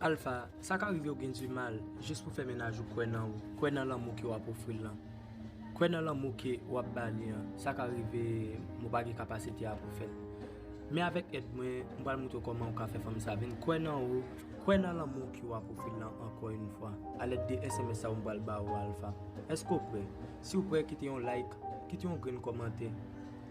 Alpha, sa ka rive ou gen du mal jis pou fè mennaj ou kwè nan ou, kwè nan lanmou ke wap ofri l lan. Kwè nan lanmou ke wap ba li an, sa ka rive m ou pa gen kapasite a pou fèl. Men avèk èd mwen, m pral moutre w kòman ou ka fè fanm sa vin kwè nan ou, kwè nan lanmou ke wap ofri l lan ankò yn fwa, a lèd de sms sa ou m pral ba ou a Alpha. Èske ou prè? Si ou prè kite yon like, kite yon grenn kòmantè,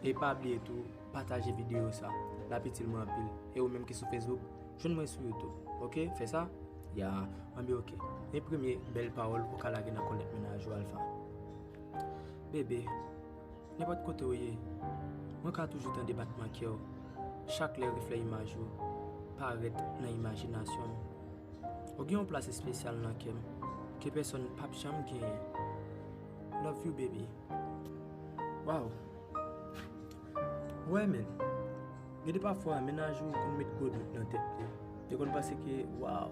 e pa bliye tou pataje video sa, lap itil mwen anpil. E ou menm ki sou Facebook, Jwenn mwen sou youtube ok fè sa. Ya anbyen ok men premye bèl pawòl ou ka lage nan kòlèt mennaj ou Alpha Bébé nenpòt kote ou ye mwen ka toujou tande batman kè w chak lè reflè imaj ou parèt nan imajinasyon m Ou gen yon plas espesyal nan kè m ke pèsòn pap janm genyen Love you baby Waww Ou wè men. Gen de pafwa mennaj ou konn met gwo dout nan tèt li. Li konn panse ke waw,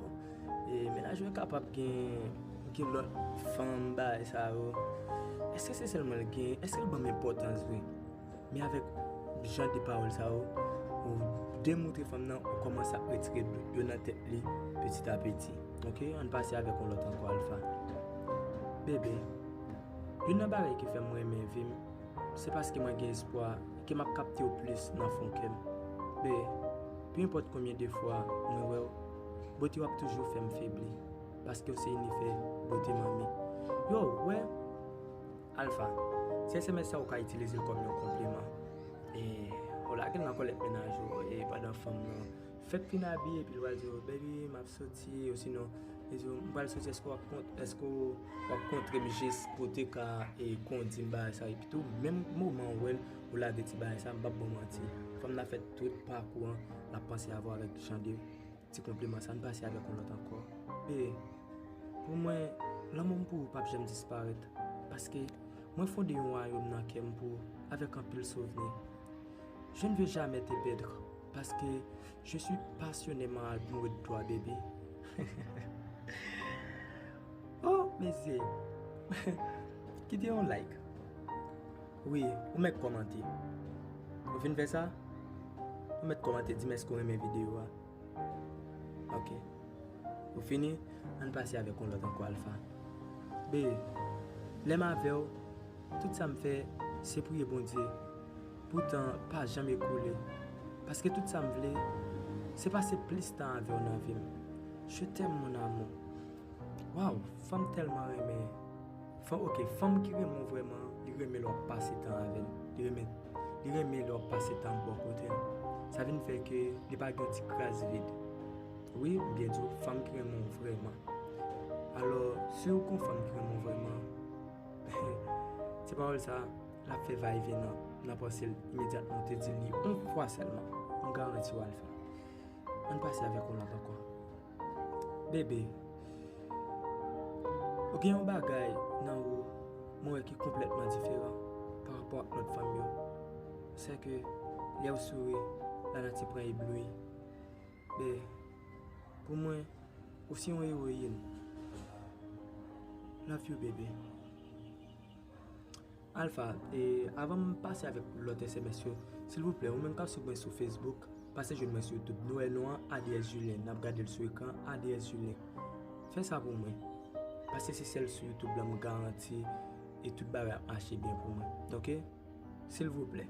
mennaj mwen kapab gen lòt fanm bagay sa yo. Eske se sèl mwen l gen? Eske l ban m enpòtans vre? Men avèk jan de pawòl sa yo, ou demontre fanm nan ou kòmanse ap retire dout yo nan tèt li piti a piti. Ok, ann pase avèk yon lòt ankò Alpha. Bebe, youn nan bagay ki fè m renmen vi m. Se paske mwen gen espwa ke m ap kapte w plis nan fon kè m. Bee, Pe enpòt konbyen de fwa mwen wè w, bote w ap toujou fè m febli, paske w se inifè bote manmi. Yo, w wè? Alfa, Se sms sa ou ka itilize l kòm yon konpliman. Ee, w lage l nan kòlèt mennaj ou, ee, pandan fanm lan. Fèk fin abiye epi li pral di w baby map soti osinon li di w m pral soti èske wap kont èske wap kontre m jis pou w te ka kondi m bagay sa epi tou menm moman ou wè l ou lage ti bagay sa m pap ba w manti fanm nan fè tout pakou an lap panse avè w avèk jan de ti konpliman sa n pase avèk yon lòt ankò e pou mwen lanmou m pou ou pap janm disparèt paske mwen fonde yon wayòm nan kè m pou ou avèk anpil souvni je ne veux jamais te perdre. Paske je suis pasyoneman almoure de toi baby hehehehe oh mesye kite yon like wi ou mèt kòmante ou fin fè sa ou mèt kòmante di m èske ou renmen videyo a ok ou fini ann pase avèk yon lòt ankò Alpha bby lè m avèw tout sa m fè se priye Bondye. Pou tan pa janm ekoule. Paske tout sa m vle se pase plis tan avèw nan vim je t'aime mon amour waw fanm tèlman renmen fanm ok fanm ki renmen w vrèman li renmen lè wap pase tan avèl li renmen li renmen lè wap pase tan bò kotel sa vin fè ke li pa gen ti kras vid wi m byen diw fanm ki renmen w vrèman alò siw gon fanm ki renmen w vrèman se pawòl sa. L ap fè va e vyen nan panse l imedyatman. Ou te di l li yon fwa sèlman. M garanti w al fè l. An n pase avèk yon lòt ankò. Bebe, ou gen yon bagay nan ou mwen wè ki konplètman diferan parapò ak lòt fanm yo. Se ke lè ou souri, lanati pran ebloui. Bebe, pou mwen, ou se yon ewoyin. Love you bebe. Alpha, e avan m pase avèk lòt sms yo, silvouplè ou menm kap swiv mwen sou Facebook, pase jwenn mwen sou YouTube. Nou wè non an ADS Julien, nap gade l sou ekran an, ADS Julien. Fè sa pou mwen. Pase se sèl sou YouTube la m garanti e tout bagay ap mache byen pou mwen. Ok? Silvouplè.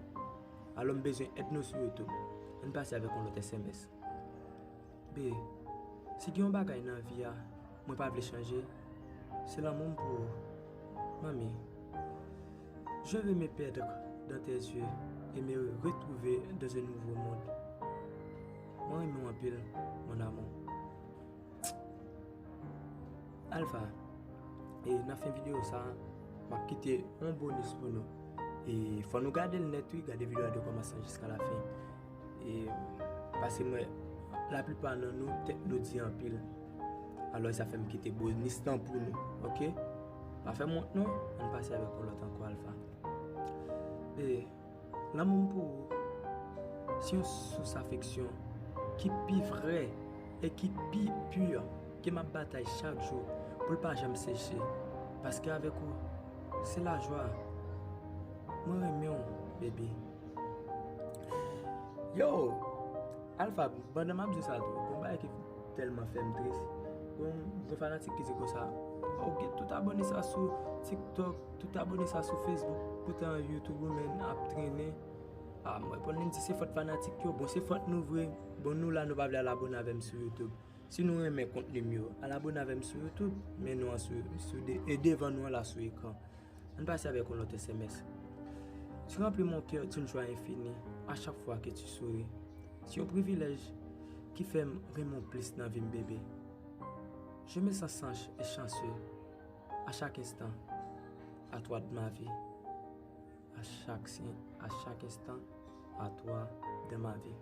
Alò m bezwen èd nou sou YouTube. Ann pase avèk yon lòt sms. B, Si gen yon bagay nan vi a mwen pa vle chanje, se lanmou m pou ou. Manmi, Je veux me perdre dans tes yeux et me retrouver dans un nouveau monde. Mwen renmen w anpil, mon amour. Tchk! Alpha, E nan fen videyo sa a, m ap kite yon bonis pou nou. E fò nou gade l nèt wi, gade videyo a de kòmansman jiska lafen. E pase mwen la plipa nan nou tèt nou di anpil alò e sa fèm kite bonis lan pou nou ok pa fèm wont non ann pase avèk yon lòt ankò alfa e lanmou m pou ou se yon sous afeksyon ki pi vrè e ki pi pur ke map batay chak jou pou l pa janm seche paske avèk ou se lajwa mwen renmen w baby. Yo! Alfa, pandan m ap di w sa tou, gen yon bagay ki tèlman fè m tris. Yon fanatik ki di konsa, Ou gen tout abòne sa sou TikTok, tout abòne sa sou Facebook, poutan YouTube ou menm ap trennen. A mwen reponn li, m di, se fòt fanatik yo. Bon, se fòt nou vre. Bon, nou la nou pa vle al abòne avè m sou YouTube. Si nou renmen kontni m yo, al abòne avè m sou YouTube, men nou an sou, e devan nou an la sou ekran. An n pase avèk yon lòt sms, Tu remplis mon cœur d'une joie infinie à chaque fois que tu souris Se yon privilèj ki fè m renmen w plis nan vi m bebe Je me sens sage et chanceux à chaque instant à toi dans ma vie A chak instan, a toi dans ma vie.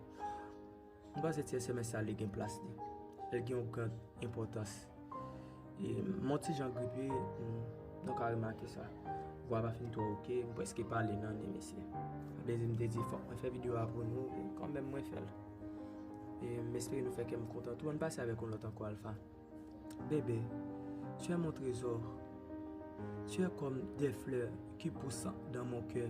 M panse ti sms sa li gen plas li. Li gen yon gran enpòtans. E m yon ti jan gripe, nou ka remake sa. Vwa pa fin twò ok, m preske pale nan ni mesye. Sa vle di m te di fòk mwen fè videyo a pou nou, e kanmenm mwen fè l. E m espere nou fè kè m kontan tou. An n pase avèk yon lòt ankò Alpha. Bebe, tu es mon trésor. Tu es comme des fleurs qui poussent dans mon cœur.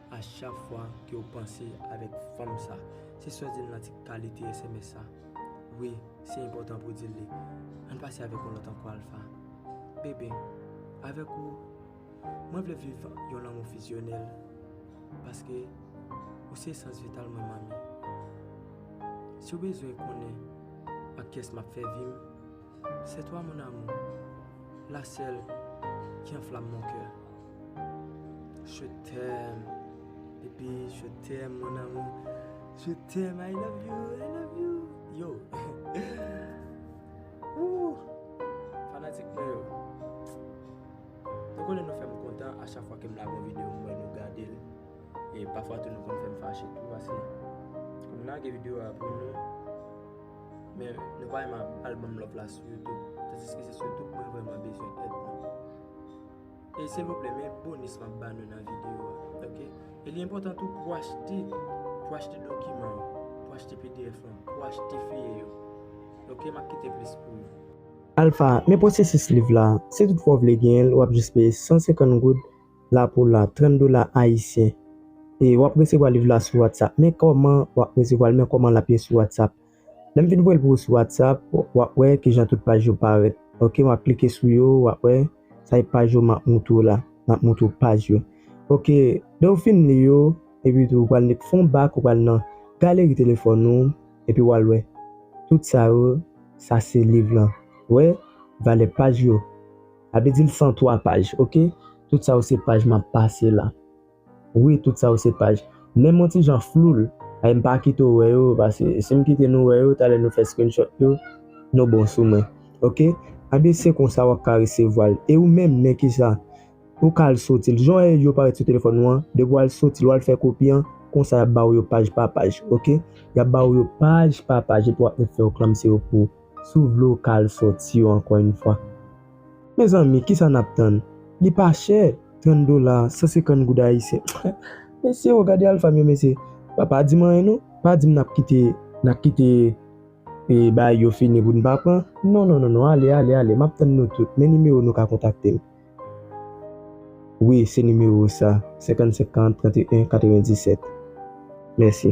A chak fwa ke ou panse avèk fanm sa. Se sòl di n nan ti kalite sms sa. Wi, se enpòtan pou di l li. An n pase avèk yon lòt ankò Alpha. Bebe, avèk ou, mwen vle viv yon lanmou fizyonèl. Paske, ou se esans vital mwen Mami. Si w bezwen konnen ak kyès m ap fè vi m. C'est toi mon amour, la seule qui enflamme mon coeur Je t'aime baby, je t'aime mon amour Je t'aime, I love you, I love you Yo Ooh Fanatik mwen yo Nou konnen nou fèm kontan a chak fwa kem lage yon video mwen wè nou gadel e pafwa tou nou konn fèm fache tou paske Lage video a pou nou. Men nou pa renmen al banm love la sou youtube tandiske se sou youtube mwen vreman bezwen èd nou e silvouplè men bonus map ba nou nan video a ok e li enpotan tou pou achte pou achte dokiman yo pou achte pdf lan pou achte feye yo ok map kite plis pou nou. Alpha, men pwosesis liv la, si tout fwa w vle genyen l wap jis peye 150 goud la pou la 30 dola ayisyen e wap resevwa liv la sou whatsapp men kòman wap resevwa l men kòman lap ye sou whatsapp lèm fin voye l pou ou sou whatsapp wap wè kijan tout paj yo parèt ok wap klike sou yo wap wè sa e paj yo map moutre w la map moutre w paj yo ok lèw fin li yo epi tou ou pral met fon bak ou pral nan galeri telefòn ou epi wal wè tout sa yo sa se liv lan wè valè paj yo. Sa vle di l 103 paj ok. Tout sa yo se paj m ap pase la. Wi tout sa yo se paj. Menm yon ti jan flou l. Ay m pa kite w wè yo paske si m kite nou wè yo talè nou fè screenshot yo nou bon sou mwen ok. Anben se konsa w ap ka resevwa l. E ou menm men kisa ou ka al soti l. Jan w wè yo parèt sou telefòn ou an depi w al soti l w al fè kopi an konsa y ap ba w yo paj pa paj ok. Y ap ba w yo paj pa paj epi w ap fè yo klanmse yo pou ou. Si w vle w ka al sòti yo ankò yn fwa. Mezanmi kisa n ap tann? Li pa chè, 30 dola, 150 goud ayisyen. Mesye o gade Alpha m yo mesye. Ba pa di m anyen non. Pa di m n ap kite n ap kite bagay yo fini pou n pa pran. Non non non non ale ale ale m ap tann nou tout. Men nimewo nou ka kontakte m. Wi se nimewo sa, 55 40 31 97. Mèsi.